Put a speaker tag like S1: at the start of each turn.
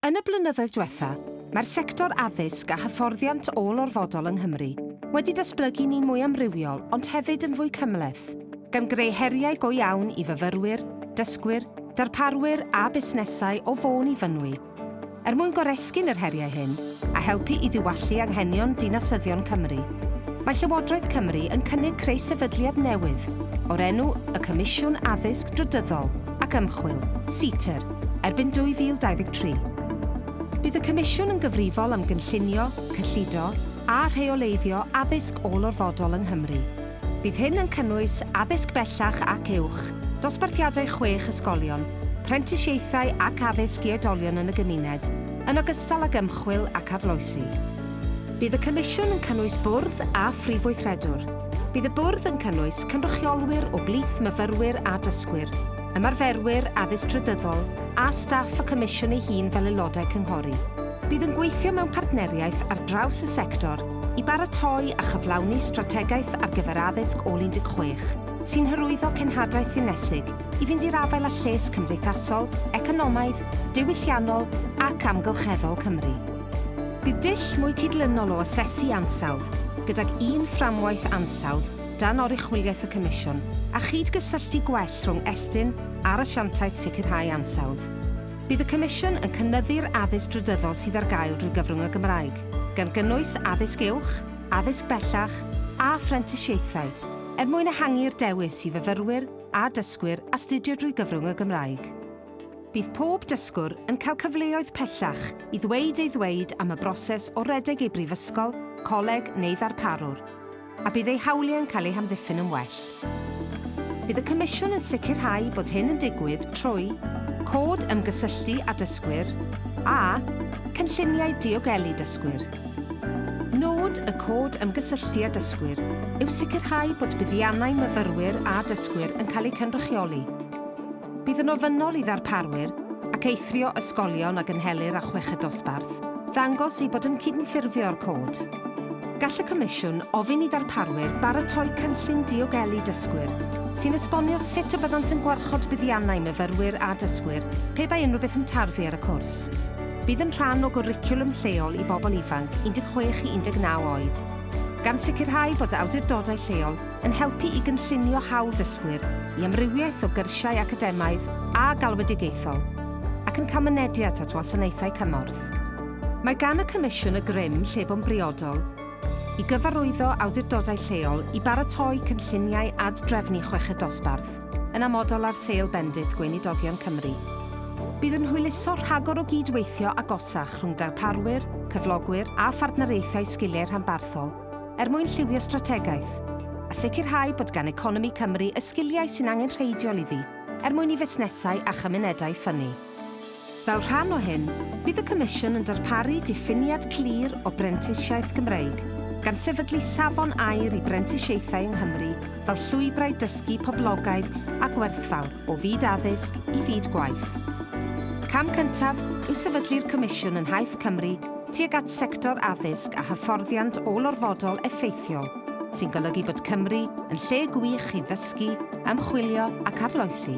S1: Yn y blynyddoedd dwetha, mae'r sector addysg a hyfforddiant ôl-orfodol yng Nghymru wedi datblygu ni'n mwy amrywiol ond hefyd yn fwy cymhleth, gan greu heriau go iawn i fyfyrwyr, dysgwyr, darparwyr a busnesau o Fôn i Fynwy. Er mwyn goresgyn yr heriau hyn a helpu i ddiwallu anghenion dinasyddion Cymru, mae Llywodraeth Cymru yn cynnig creu sefydliad newydd o'r enw Y Comisiwn Addysg Drydyddol, ac Ymchwil, CITER, erbyn 2023. Bydd y Comisiwn yn gyfrifol am gynllunio, cyllido a rheoleiddio addysg ôl-orfodol yng Nghymru. Bydd hyn yn cynnwys addysg bellach ac uwch, dosbarthiadau chwech ysgolion, prentisiaethau ac addysg i oedolion yn y gymuned, yn ogystal ag ymchwil ac arloesi. Bydd y Comisiwn yn cynnwys Bwrdd a Phrif Weithredwr. Bydd y bwrdd yn cynnwys cynrychiolwyr o blith myfyrwyr a dysgwyr, ymarferwyr addysg drydyddol a staff y Comisiwn ei hun fel aelodau cynghori. Bydd yn gweithio mewn partneriaeth ar draws y sector i baratoi a chyflawni strategaeth ar gyfer addysg ôl 16, sy'n hyrwyddo cenhadaeth ddinesig i fynd i'r afael â lles cymdeithasol, economaidd, diwylliannol ac amgylcheddol Cymru. Bydd dull mwy cydlynol o asesu ansawdd, gydag un fframwaith ansawdd dan oruchwyliaeth y Comisiwn, a chyd-gysylltu gwell rhwng Estyn a'r Asiantaeth Sicrhau Ansawdd. Bydd y Comisiwn yn cynyddu'r addysg drydyddol sydd ar gael drwy gyfrwng y Gymraeg, gan gynnwys addysg uwch, addysg bellach a phrentisiaethau, er mwyn ehangu'r dewis i fyfyrwyr a dysgwyr astudio drwy gyfrwng y Gymraeg. Bydd pob dysgwr yn cael cyfleoedd pellach i ddweud ei ddweud am y broses o redeg ei brifysgol, coleg neu ddarparwr, a bydd eu hawliau'n cael eu hamddiffyn yn well. Bydd y Comisiwn yn sicrhau bod hyn yn digwydd trwy cod ymgysylltu â dysgwyr a cynlluniau diogelu dysgwyr. Nod y cod ymgysylltu â dysgwyr yw sicrhau bod buddiannau myfyrwyr a dysgwyr yn cael eu cynrychioli, Bydd yn ofynnol i ddarparwyr ac eithrio ysgolion a gynhelir â chweched dosbarth ddangos eu bod yn cydymffurfio â'r Cod. Gall y Comisiwn ofyn i ddarparwyr baratoi cynllun diogelu dysgwyr sy'n esbonio sut y byddant yn gwarchod buddiannau myfyrwyr a dysgwyr pe bai unrhyw beth yn tarfu ar y cwrs. Bydd yn rhan o gwricwlwm lleol i bobl ifanc 16 i 19 oed, gan sicrhau bod awdurdodau lleol yn helpu i gynllunio hawl dysgwyr i amrywiaeth o gyrsiau academaidd a galwedigaethol ac yn cael mynediad at wasanaethau cymorth. Mae gan y Comisiwn y grym lle bo'n briodol i gyfarwyddo awdurdodau lleol i baratoi cynlluniau ad-drefnu chweched dosbarth yn amodol ar sail bendith Gweinidogion Cymru. Bydd yn hwyluso rhagor o gyd-weithio agosach rhwng darparwyr, cyflogwyr a phartneriaethau sgiliau rhanbarthol, er mwyn lliwio strategaeth, a sicrhau bod gan economi Cymru y sgiliau sy'n angenrheidiol iddi er mwyn i fusnesau a chymunedau ffynnu. Fel rhan o hyn, bydd y Comisiwn yn darparu diffiniad clir o brentisiaeth Gymreig, gan sefydlu safon aur i brentisiaethau yng Nghymru fel llwybrau dysgu poblogaidd a gwerthfawr o fyd addysg i fyd gwaith. Cam cyntaf yw sefydlu'r Comisiwn yn nhaith Cymru tuag at sector addysg a hyfforddiant ôl-orfodol effeithiol, sy'n golygu bod Cymru yn lle gwych i ddysgu, ymchwilio ac arloesi.